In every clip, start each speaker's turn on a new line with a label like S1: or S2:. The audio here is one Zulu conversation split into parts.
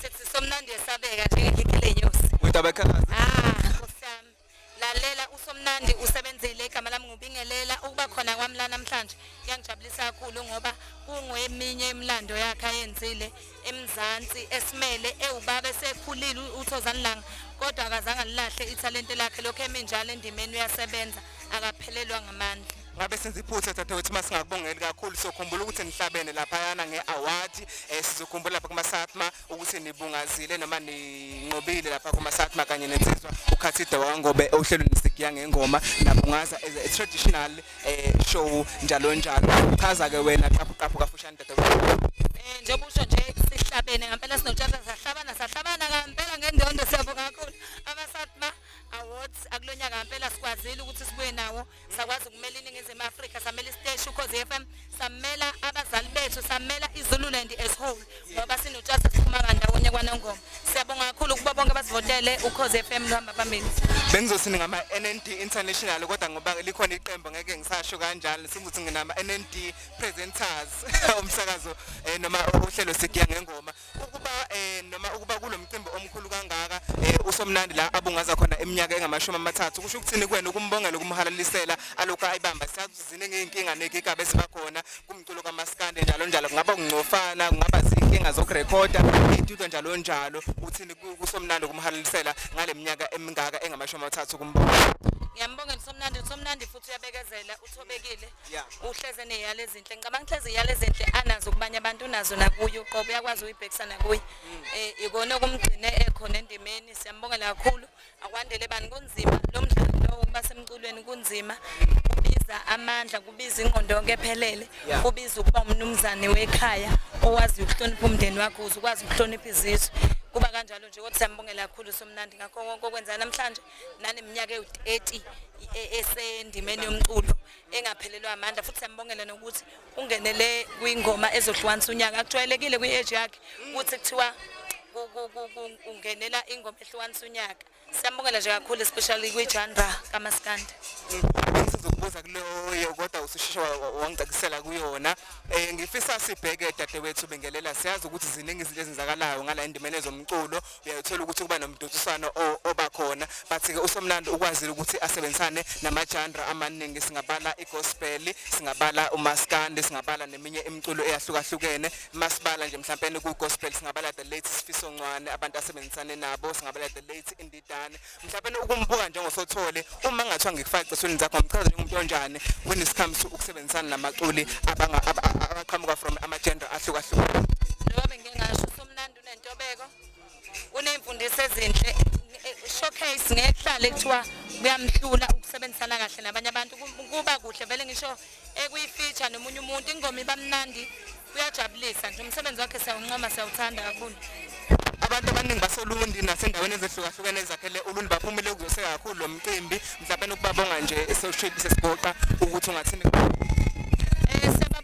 S1: Sithi somnandi esabeka njengegigi lenyosi. Udaba ekhalaza.
S2: Ah, usami.
S1: Lalela usomnandi usebenzile igama lami ngubingelela ukuba khona kwami la namhlanje kuyangijabulisa kakhulu ngoba kungeminye imlando yakhe ayenzile eMzansi esimele ewubaba esekhulile uThozani Langa kodwa akazange lilahle ithalente lakhe lokho eminjalo endimeni uyasebenza akaphelelwa ngamandla. ngabe senza iphutha
S2: dadewethu uma singakubongeli kakhulu sokhumbula ukuthi nihlabene laphayana nge-award um eh, sizokhumbula lapha kumasatma ukuthi nibungazile noma ninqobile lapha kumasatma kanye nensizwa ukhathide wangobe ohlelweni sigiya ngengoma nabungaza as a traditional um show njalo njalo chaza-ke wena qaphuqaphu kafushane dadewethu um eh, njengoba usho
S1: nje sihlabene ngampela sinotshata sahlabana sahlabana ngampela ngendondo siyabonga kakhulu amasatma awards akulonyaka ngampela sikwazile ukuthi sibuye nawo sakwazi ukumela iningizimu afrika samela isiteshi ukhozi f m samela abazali bethu samela izululand as whole ngoba sinotshasa siphuma bandawonye kwanongoma siyabonga kakhulu ukuba bonke basivotele ukhozi f m luhamba phambili bengizothi ngama
S2: NND international kodwa ngoba likhona iqembu ngeke ngisasho kanjalo singuthi nginama NND presenters umsakazo eh, noma uhlelo sigiya ngengoma ukuba eh noma ukuba kulomcimbi omkhulu kangaka eh usomnandi la abungaza khona eminyaka engamashumi amathathu kusho ukuthini kuwena ukumbongela ukumhalalisela alokho ayibamba siyazuzine ngeenkinga negigaba ezibakhona kumculo kamaskande njalo njalo kungaba kungcofana kungaba zinkinga zokurekhoda itudo njalo njalo uthini kusomnandi ukumhalalisela ngaleminyaka emingaka engamashumi amathathu kumbongela ngiyambongela usomnandi
S1: usomnandi futhi uyabekezela uthobekile Yeah. uhleze neyala ezinhle ngicabanga ukuthi lezi yala ezinhle anazo kubanye abantu unazo nakuye uqobo uyakwazi uyibhekisa nakuye Mm. eh ikona okumgcine ekhona endimeni siyambongela kakhulu akwandele bani kunzima lo mdlalo lo ukuba semculweni kunzima kubiza amandla kubiza ingqondo yonke ephelele Yeah. kubiza ukuba umnumzane wekhaya owazi ukuhlonipha umndeni wakho uze ukwazi ukuhlonipha izizwe kuba kanjalo nje kodwa siyambongela kakhulu somnandi ngakho konke okwenza namhlanje naneminyaka ewu-30 e-, esendimeni yomculo engaphelelwa amandla futhi siyambongela nokuthi ungenele kwingoma ezohlukanisa unyaka akujwayelekile kwi-age yakhe ukuthi kuthiwa ungenela ingoma ehlukanisa unyaka siyambongela nje kakhulu especially kwi-janra kamaskandi
S2: sizokubuza kuleyo kodwa ususheshe wangicacisela kuyona um ngifisa sibheke dadewethu bengelela siyazi ukuthi ziningi izinto ezenzakalayo ngala endimeni ezomculo uyayithola ukuthi kuba nomdonsiswano oba khona bathi-ke usomlando ukwazile ukuthi asebenzisane namajandra amaningi singabala igospeli singabala umaskandi singabala neminye imiculo eyahlukahlukene masibala nje mhlawumpeni kugospel singabala the late sifiso ncwane abantu asebenzisane nabo singabala the late indidane mhlawumpeni ukumbuka njengosothole uma ngathiwa ngikufaka cisweni zakho ngichaza njengomuntu onjani when it comes to ukusebenzisana namaculi abaqhamuka from amajandra ahlukahlukene
S1: Unentobeko. Unemfundiso ezinhle. Showcase ngehlale kuthiwa kuyamhlula ukusebenzisana kahle nabanye abantu kuba kuhle vele ngisho ekuyifeature nomunye umuntu ingoma ibamnandi kuyajabulisa nje umsebenzi wakhe siyawuncoma siyawuthanda kakhulu abantu
S2: abaningi basolundi nasendaweni ezehlukahlukene ezakhele ulundi baphumile kuzose kakhulu lo mcimbi mhlawumbe nokubabonga nje esewushibise sigoqa ukuthi ungathini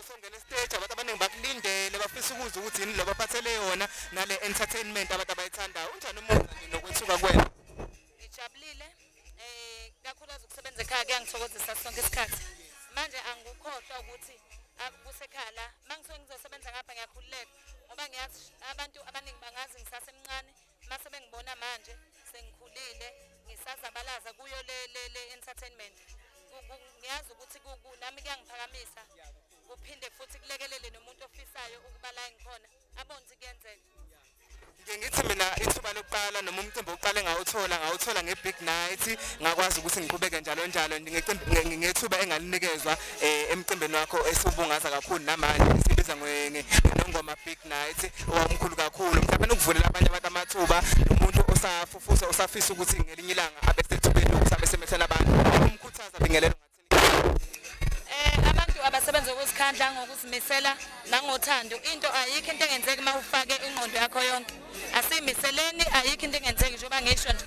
S2: usongena estage abantu abaningi bakulindele bafisa ukuzwa ukuthi yini loba phathele yona nale entertainment abantu abayithandayo unjani umuzwa nje nokwethuka kwena ngijabulile
S1: eh kakhulukazi ukusebenza ekhaya kuyangithokozisa sonke isikhathi manje angikukhohlwa ukuthi kusekhaya la mangisuke ngizosebenza ngapha ngiyakhululeka ngoba ngiyazi abantu abaningi bangazi ngisasemncane Mase bengibona manje sengikhulile ngisazabalaza kuyo le le le entertainment. Ngiyazi ukuthi nami kuyangiphakamisa kuphinde futhi kulekelele nomuntu ofisayo ukuba la ngikhona abone ukuthi kuyenzeka. Ngike ngithi
S2: mina ithuba lokuqala noma umcimbi oqale ngawuthola ngawuthola nge-big night ngakwazi ukuthi ngiqhubeke njalo njalo ngecimbi ngethuba engalinikezwa eh, emcimbini wakho esiwubungaza kakhulu namanje sibiza nongoma big night owamkhulu kakhulu mhlawumbe nokuvulela abanye abantu amathuba nomuntu osafufusa osafisa ukuthi ngelinye ilanga abe sethubeni lokuthi abe semethela abantu umkhuthaza bingelelo eh,
S1: abantu abasebenza ukuzikhandla ngokuzimisela nangothando into ayikho into engenzeki uma ufake ingqondo yakho yonke asimiseleni ayikho into engenzeki njengoba ngisho nje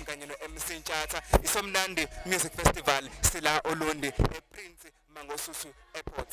S2: kanye no-mc ntshatha isomnandi music festival sila olundi eprince mangosusu airport